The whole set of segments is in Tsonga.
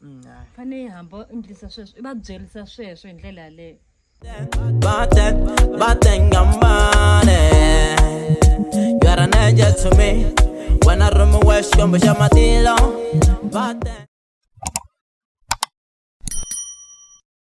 mm, fane yi hamba u endlisa sweswo i va byerisa sweswo hi ndlela yaleyo wena romi wa xikombo xa matilo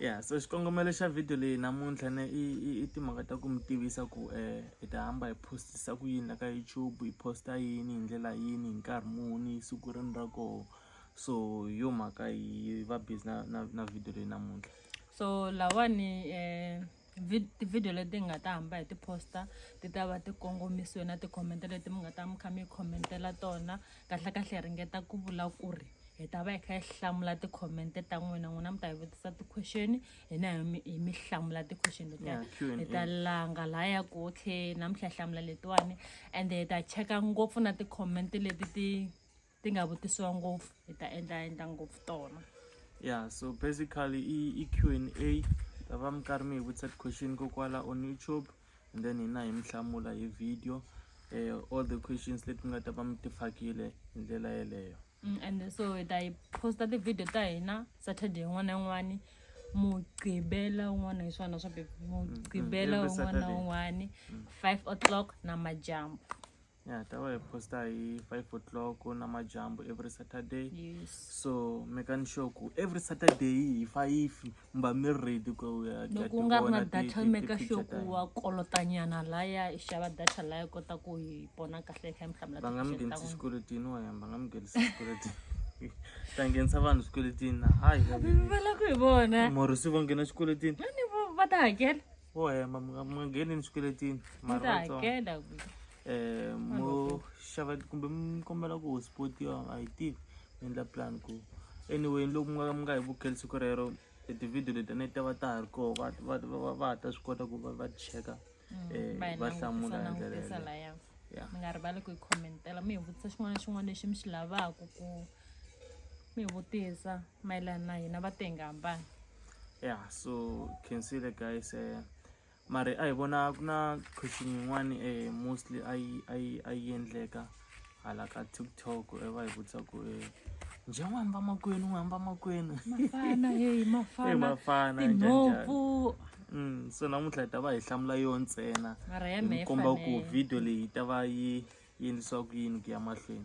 ya so xikongomelo xa video leyi namuntlha ne i timhaka ta ku mi tivisa ku um hi ta hamba hi postisa ku yini la ka youtube hi posta yini hi ndlela yini hi nkarhi muni hi siku rini ra koho so hi yo mhaka hi va busy na na na video leyi namuntlha so lawani um tivhidiyo leti nga ta hamba hi ti-posta ti ta va ti kongomisiwe na tikhomente leti mi nga ta mi kha mi khomentela tona kahlekahle hi ringeta ku vula ku ri hi ta va hi kha hi hlamula tikhomente ta n'wina n'wina mi ta hi vutisa ti-question hina hi mi hlamula ti-question letiya hi ta langa laha ya ku okay namuntlha hi hlamula letiwani ende hi ta cheka ngopfu na tikhomente leti ti ti nga vutisiwa ngopfu hi ta endla endla ngopfu tona ya so basically i i q and a ta va mi karhi mi hi vutisa ti-question kokwala on youtube and then hina hi mi hlamula hi video um all the questions leti mi nga ta va mi ti fakile hi ndlela yeleyo mm, and so hi ta yi posta ti-video ta hina saturday yin'wana na yin'wana mugqibela un'wana hi swona swa mugqibela mm, mm, un'wana na un'wana five o'clock na majambu ya ta va hi posta hi five o'clock namadyambu every saturday yes. so mekani sure ku every saturday hi five mi va mi ri ready ku ya ku ya loko u nga ri na tivona ti- data ti- ti meka picture sure ta ku hina. wa kolotanyana laya i xava data laya i kota ku hi pona kahle i kha i mi hlamula va nga mi ti-question ta nghenisi n'wina. swikweletini wa yena va nga mi nghenisi swikweletini ta nghenisa vanhu swikweletini na hayi va lava ku hi vona mori se va nghena xikweletini Ni vo- va ta hakela wo hemba mi nga mi nga ngheneni swikweletini mara ta vatsongo hakela um mo xava kumbe mi kombela ku hospodiwa a yi tivi mi endla plan ku anyway loko mi nga mi nga hi vukeli siku rero e tivhidiyo leti a ni ta va ta ha ri koho va va va va- va ha ta swi kota ku va va cheka um va va hlamula hi ndlela yeleyo langutisalaya Yeah. mi nga rivali ku yi khomentela mi hi vutisa xin'wana na xin'wana lexi mi xi lavaka ku mi vutisa mayelana na hina va tenga hambana ya so khensile guys um mari a hi vona ku na question yin'wani um mostly a yi a yi a yi endleka hala ka tiktok e va hi vutisa ku um njhe n'wi hamba makwenu n'wi hamba makwenu mafana heyi mafana mafana tinhompfu Mm, so namuntlha hi ta va hi hlamula yo ntsena hi komba ku video leyi yi ta va yi yendlisiwa ku yini ku ya mahlweni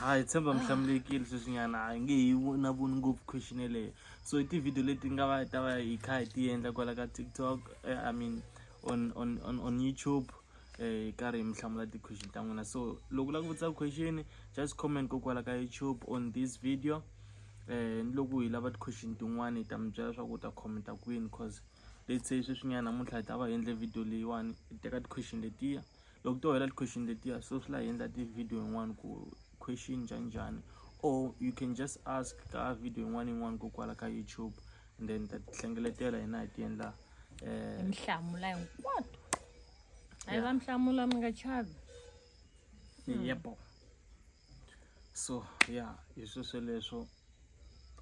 hayi tshemba ah. mihlamulekile sweswinyana hi nge hi na voni ngopfu question yeleyo so i tivhidiyo leti nga va ta va hi kha hi ti endla kwala ka tiktok eh, i mean on on on on youtube eh karhi mi hlamula ti question ta n'wina so loko la ku vutisa question just comment ko kwala ka youtube on this video eh ni loko hi lava ti question tin'wana hi ta mi byela leswaku u ta commenta kwini cause let's say sweswinyana namuntlha hi ta va hi endle video leyiwani hi teka ti question letiya loko to hela ti-question letiya so swi la hi endla ti-video yin'wana ku question njhani njhani or you can just ask ka video yin'wana yin'wana ko kwala ka youtube and then ta hlengeletela hina hi ti endla um mihlamula hinkwato a yi va mihlamula mi nga chavi yebo so ya hi swi sweleswo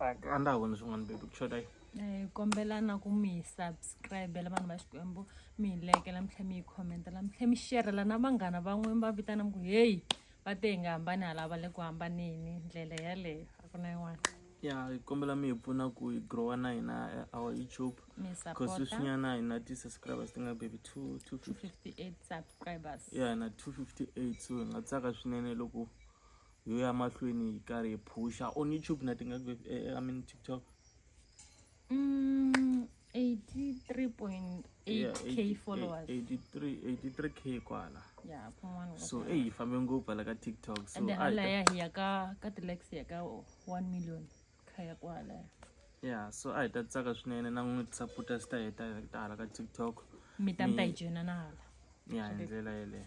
a ndza ha voni swin'wana baby ku xota yi eh, kombela na ku mi hi subscribela vanhu va xikwembu mi hi lekela mi tlhela mi yi khomentela mi tlhela mi xerhela na vanghana van'we va vitana mi ku heyi va te hi nga hambani halava le ku hambaneni ndlela yaleyo a ku na yin'wana ya hi kombela mi hi pfuna ku hi growa na hina eh, our youtube Mi hi support-a. cause sweswinyana hi na ti-subscribers ti nga baby two two fifty 58 subscribers ya hi na two fifty eight so hi nga tsaka swinene loko hi ya mahlweni hi karhi hi phusha on youtube na ti nga baby eh, eh, i mean tiktok Mm, 83.8 yeah, 80, k followers 83 83 k kwala yeah kun'wana so eyi hi fambe ngopfu hala ka tiktok so and then hala ya hi ya ka ka tilex ya ka 1 million kha ya kwala yeah so a hi ta tsaka swinene na n'wi saputa swi ta heta ta hala ka tiktok mi ta mi ta yi joyina na hala ya hi ndlela yeleyo